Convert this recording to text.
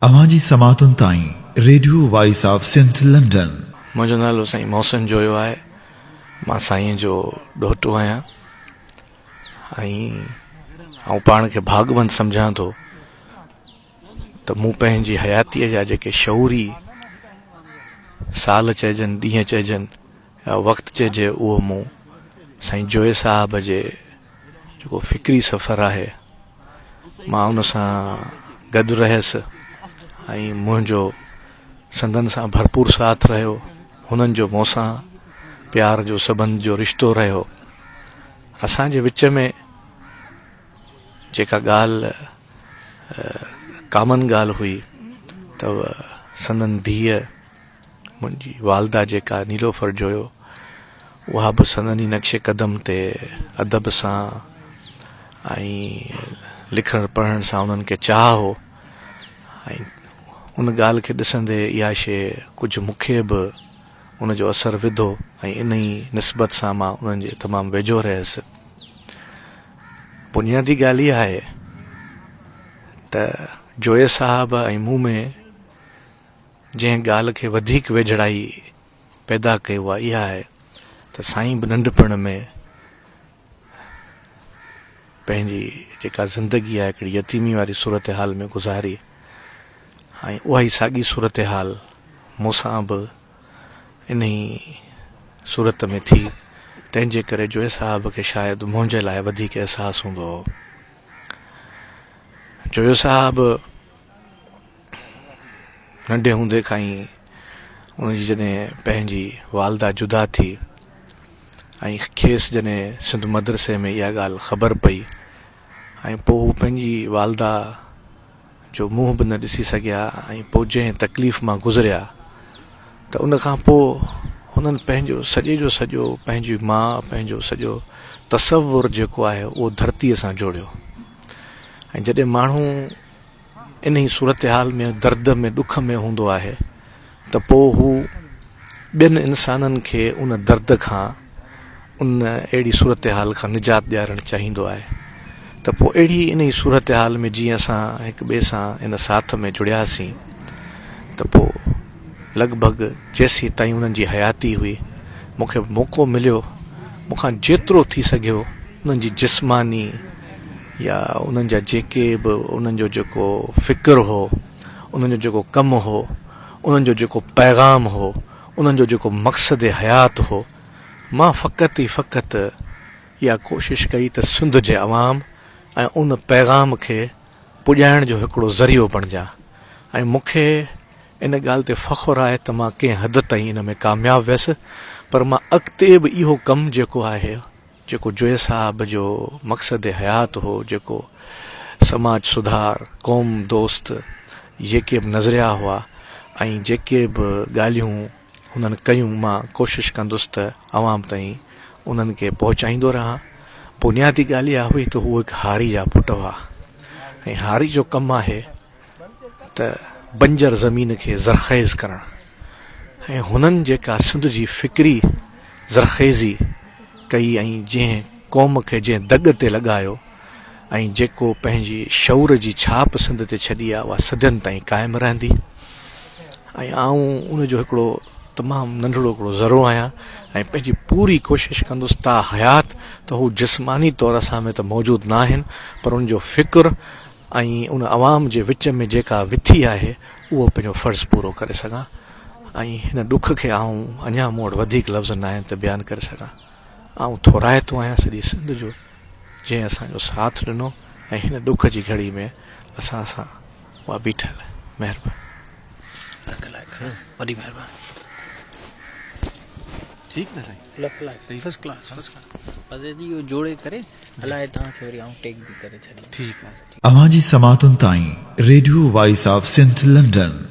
اوهان جي سماعتن تائين radio voice of Sindh London. منهنجو نالو سائين محسن جويو آهي مان سائين جو ڏوهٽو آهيان ۽ آئون پاڻ کي ڀاڳوند سمجهان ٿو ته مون پنهنجي حياتيء جا جيڪي شعوري سال چئجن ڏينهن چئجن يا وقت چئجي اهو مون سائين جويي صاحب جي جيڪو فڪري سفر آهي مان ان سان گڏ رهيس ۽ منهنجو سندن سان ڀرپور ساٿ رهيو هنن جو مون سان پيار جو سبنڌ جو رشتو رهيو اسان جي وچ ۾ جيڪا ڳالهه ڪامن ڳالهه هئي ته سندن ڌيء منهنجي والده جيڪا نيلوفر جويو، اها به سندن ئي نقش قدم تي ادب سان ۽ لکڻ پڙهڻ سان انهن کي چاهه هو ۽ ان ڳالهه کي ڏسندي اها شيء ڪجهه مون کي به ان جو اثر وڌو ۽ انهيء نسبت سان مان انهن جي تمام ويجهو رهيس. بنيادي ڳالهه اها آهي ته جويي صاحب ۽ مون ۾ جنهن ڳالهه کي وڌيڪ ويجهڙائي پيدا ڪئي اها اها آهي ته سائين به ننڍپڻ ۾ پنهنجي جيڪا زندگي آهي هڪڙي يتيمي واري صورتحال ۾ گذاري ۽ اها ئي ساڳي صورتحال مون سان به انهي صورت ۾ ٿي تنهن جي ڪري جويي صاحب کي شايد منهنجي لاء وڌيڪ احساس هوندو هو جويو صاحب ننڍي هوندي کان ئي ان جي جڏهن پنهنجي والده جدا ٿي ۽ کيس جڏهن سنڌ مدرسي ۾ اها ڳالهه خبر پئي ۽ پوء هو پنهنجي والده جو منهن به نه ڏسي سگهيا ۽ پوء جنهن تڪليف مان گذريا ته ان کان پوء هنن پنهنجو سڄي جو سڄو پنهنجي ماء پنهنجو سڄو تصور جيڪو آهي اهو ڌرتيء سان جوڙيو ۽ جڏهن ماڻهو انهي صورتحال ۾ درد ۾ ڏک ۾ هوندو آهي ته پوء هو ٻين انسانن کي ان درد کان ان اهڙي صورتحال کان نجات ڏيارڻ چاهيندو آهي ته پوء اهڙي انهي صورتحال ۾ جيئن اسان هڪ ٻئي سان ان ساٿ ۾ جڙياسين ته پوء لڳ ڀڳ جيسين تائين انهن جي حياتي هئي مون کي موقعو مليو مون کان جيترو ٿي سگهيو انهن جي جسماني يا انهن جا جيڪي به انهن جو جيڪو فڪر هو انهن جو جيڪو ڪم هو انهن جو جيڪو پيغام هو انهن جو جيڪو مقصد حيات هو مان فقط ئي فقط يا ڪوشش ڪئي ته سنڌ جي عوام ۽ ان پيغام کي پڄائڻ جو هڪڙو ذريعو بڻجان ۽ مون کي ان ڳالهه تي فخر آهي ته مان ڪنهن حد تائين ان ۾ ڪامياب ويس پر مان اڳتي به اهو ڪم جيڪو آهي جيڪو جويي صاحب جو مقصد حيات هو، جيڪو سماج سڌار، قوم دوست جيڪي به نظريا هئا ۽ جيڪي به ڳالهيون هنن ڪيون مان ڪوشش ڪندس ته عوام تائين انهن کي پهچائيندو رهان. بنيادي ڳالهه اها هئي ته هو هڪ هاري جا پٽ هئا ۽ هاري جو ڪم آهي. ته بنجر زمين کي زرخيز ڪرڻ ۽ هنن جيڪا سنڌ جي فڪري زرخيزي ڪئي ۽ جنهن قوم کي جنهن دڳ تي لڳايو ۽ جيڪو پنهنجي شعور جي ڇاپ سنڌ تي ڇڏي آهي اها صدين تائين قائم رهندي ۽ آئون ان جو هڪڙو تمام ننڍڙو هڪڙو ذرو آهيان ۽ پنهنجي پوري ڪوشش ڪندس تا حيات ته هو جسماني طور اسان ۾ ته موجود ناهن پر ان جو فڪر ۽ ان عوام جي وچ ۾ جيڪا وٿي آهي اهو پنهنجو فرض پورو ڪري سگهان ۽ هن ڏک کي آئون اڃا مون وٽ وڌيڪ لفظ نه آهن ته بيان ڪري سگهان آئون ٿورائتو آهيان سڄي سنڌ جو جنهن اسان جو ساٿ ڏنو ۽ هن ڏک جي گهڙي ۾ اسان سان اها بيٺل مهرباني وڏي مهرباني ٺيڪ نه سائين لک like ۽ first class first class بس اهي جي اهو جوڙي ڪري هلائي توهان کي وري آئون ٽيگ به ڪري ڇڏيندس ٺيڪ آهي. اوهان جي سماعتن تائين radio voice of Sindh London.